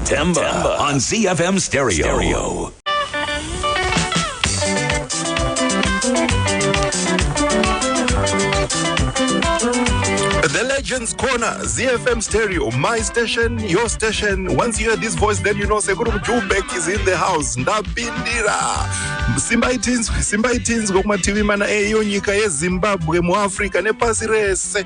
Temba, Temba on ZFM Stereo. Stereo. The Legends Corner, ZFM Stereo, my station, your station. Once you hear this voice, then you know Sekuru Jubek is in the house. Ndapindira. Simba itinzwe, Simba itinzwe kumativi mana eyo nyika yeZimbabwe, muAfrica nepasi rese.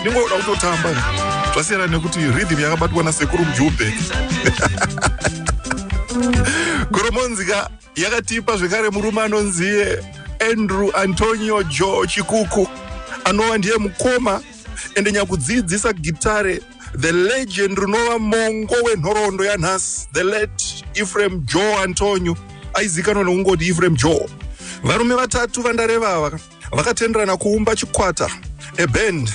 ndingoda kutotamba zvasiyana nekuti rhythm yakabatwa nasekuru mjumbe goromonzika yakatipa zvekare murume anonziye andrew antonio jo chikuku anova ndiye mukoma ende nyakudziidzisa gitare the legend rinova mongo wenhoroondo yanhasi the late efraim jo antonio aizikanwa nekungoti efraim jo varume vatatu vandarevava vakatenderana kuumba chikwata a band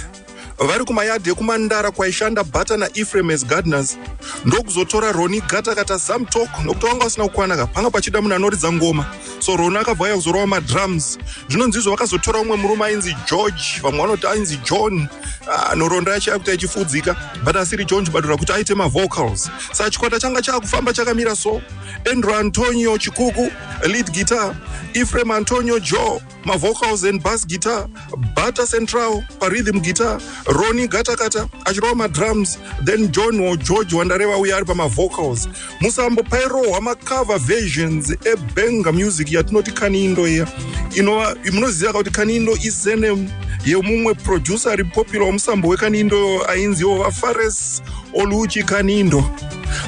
vari kumayadhi ekumandara kwaishanda bata naefrem as gardeners ndokuzotora roni gata kata zamtok nokuti vanga vasina kukwana ka panga pachida munhu anoridza ngoma so roni akabva aya kuzorowa madrums zvinonzi izvo vakazotora umwe murume ainzi george vamwe vanoti ainzi john ah, nhoroondo yacho yakuti achifudzika but asiri john chibadura kuti aite mavocals sa chikwata changa chaakufamba chakamira so andrew antonio chikuku lead guitar Ephraim Antonio Joe ma vocals and bass guitar Bata Central pa rhythm guitar Ronnie Gatakata achirova ma drums then John or George wandareva uya ari pa ma vocals musambo pairohwa ma cover versions e banger music yatinoti kanindo iya inova munoziva kuti kanindo is a name yemumwe producer ari popular wemusambo wekanindo ainziwo vafares oluchi kanindo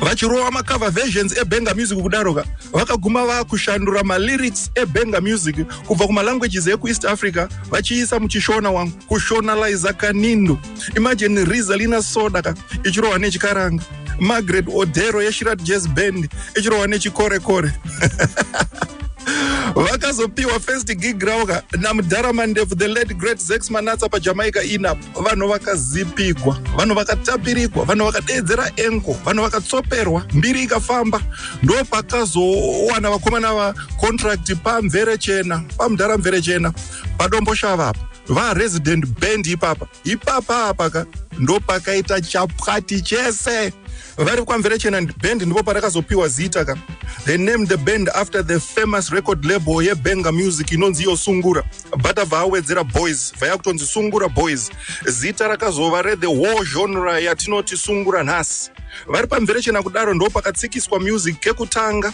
vachirova macover versions ebenga music kudaro ka vakaguma vakushandura malyrics ebenga music kubva kumalanguages ekueast africa vachiisa muchishona wangu kushonaliza kanindo imagine rizalina soda ka ichirova nechikaranga margaret odero yeshirat jazz band ichirova nechikorekore vakazopiwa first gig rauka namudhara mandefu the late great zex manatsa pajamaica inap vanhu vakazipigwa vanhu vakatapirigwa vanhu vakadeedzera enko vanhu vakatsoperwa mbiri ikafamba ndo pakazowana vakomana vacontracti pamvere chena pamudhara mvere chena padombo shava apa varesident band ipapa ipapa apaka ndo pakaita chapwati chese vari kwamverechena band ndipo parakazopiwa zita ka they named the band after the famous record label yebenga music inonzi iyo sungura but abva awedzera boys vaya kutonzi sungura boys zita rakazova rethe war genre yatinoti sungura nhasi vari pamverechena kudaro ndo pakatsikiswa music kekutanga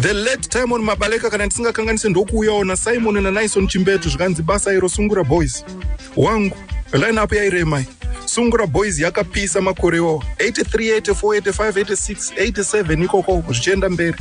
the late timon mabaleka kana ndisingakanganise ndokuuyawo nasimon nanison chimbetu zvikanzi basa iro sungura boys wangu line up yairemai sungura boys yakapisa makore iwawo 83 84 85 86 87 ikoko zvichienda mberi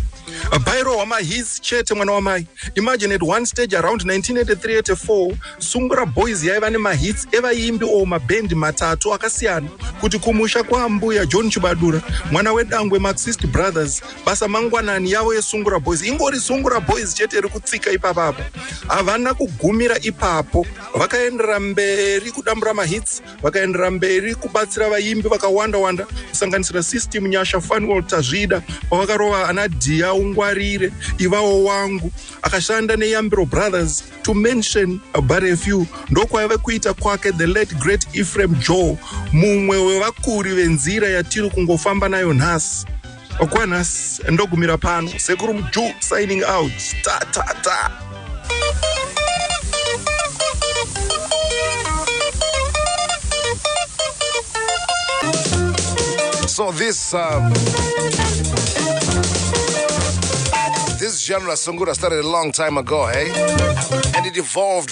bairo wamahis chete mwana wamai imagine at one stage around 1983 84 sungura boys yaiva nemahits evaimbi o mabendi matatu akasiyana kuti kumusha kwaambuya john chibadura mwana wedangwe maxist brothers basa mangwanani yavo yesungura boys ingori sungura boys chete iri kutsika ipapapo havana kugumira ipapo vakaendera mberi kudambura mahits vakaendera mberi kubatsira vaimbi vakawanda wanda kusanganisira system nyasha fanuel tazvida pavakarova ana dhiya ungwarire ivawo wangu akashanda neyambiro brothers to mention but a few ndokwaive kuita kwake the late great ephraim joe mumwe wevakuri venzira yatiri kungofamba nayo nhasi okwanhasi ndogumira pano sekuru mju signing out ta ta ta So this um, this genre Sungura started a long time ago, hey? And it evolved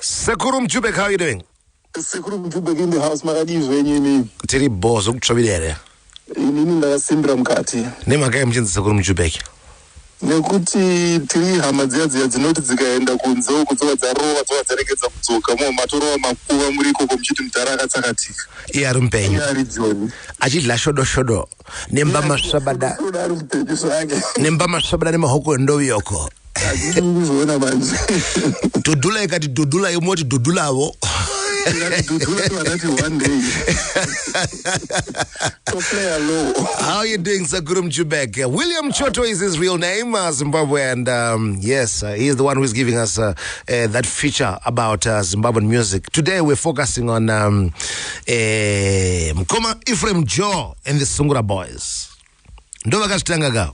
Sekuru Mjubek, how are you doing? Sekuru Mjubek in the house, makadii zvenyu inini? Tiri bho zvekutsvavira here? Inini ndakasimbira mukati. Nemhaka yei muchinzi Sekuru Mjubek? Nekuti tiri hama dziya dziya dzinoti dzikaenda kunze uko dzova dzarova dzova dzaregedza kudzoka mo matorova makuva muri ikoko muchiti mudhara akatsakatika. Iye ari mupenyu. Iye ari joni. Achidya shodo shodo. nemba masvabada nemba masvabada nemahoko endoviyoko dudula ikati dudula imoti dudulavo How are you doing, Sakuru Mchubek? William Choto is his real name, uh, Zimbabwe, and um, yes, uh, he is the one who is giving us uh, uh that feature about uh, Zimbabwean music. Today, we're focusing on. Um, eh, mukoma ephraim joe and the sungura boys ndo vakazvitanga ka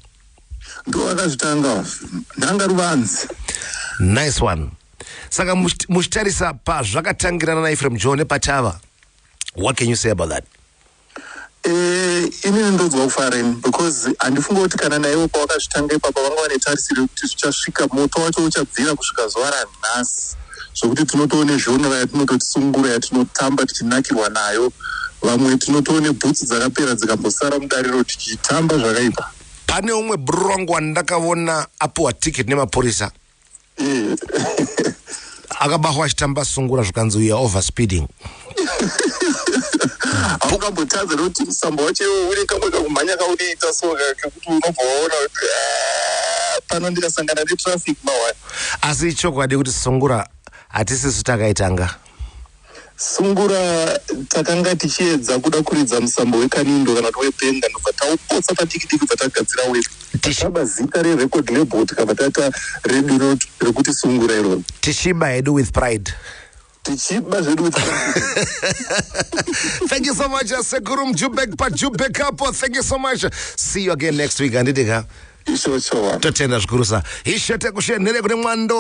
ndo vakazvitanga ndanga ruvanzi nice one saka muchitarisa pazvakatangirana naephraim joe nepachava what can you say about that Eh, inini ndonzwa kufara ini because handifunge kuti kana naivo pavakazvitanga ipapa vanga vane tarisiro yekuti zvichasvika moto wacho uchabvira kusvika zuva ranhasi zvokuti tinotoone zhonora yatinototi sungura yatinotamba tichinakirwa nayo vamwe tinotoone bhutsu dzakapera dzikambosara mudariro tichitamba zvakaipa pane umwe brong wandakavona apiwa ticket nemapurisa akabahwa achitamba sungura zvikanzi uya over speeding aukambotadza nokuti musamba wacho iwo une kamwe kakumhanya kaunoita so kekuti unobva waona kuti ah, pano ndikasangana netraffic mawani asi ichokwadi kuti sungura hatisisu takaitanga Sungura takanga tichiedza kuda kuridza musambo wekanindo kana kuti webenga ndobva taupotsa padiki diki bva tagadzira wedu tichaba zita rerecord label tikabva taita redu iro rekuti sungura iroro tichiba hedu with pride tichiba zvedu with thank you so much sekuru mjubek pajubek apo thank you so much see you again next week handiti ka ishochowa totenda zvikurusa ishe tekushenhere kune mwando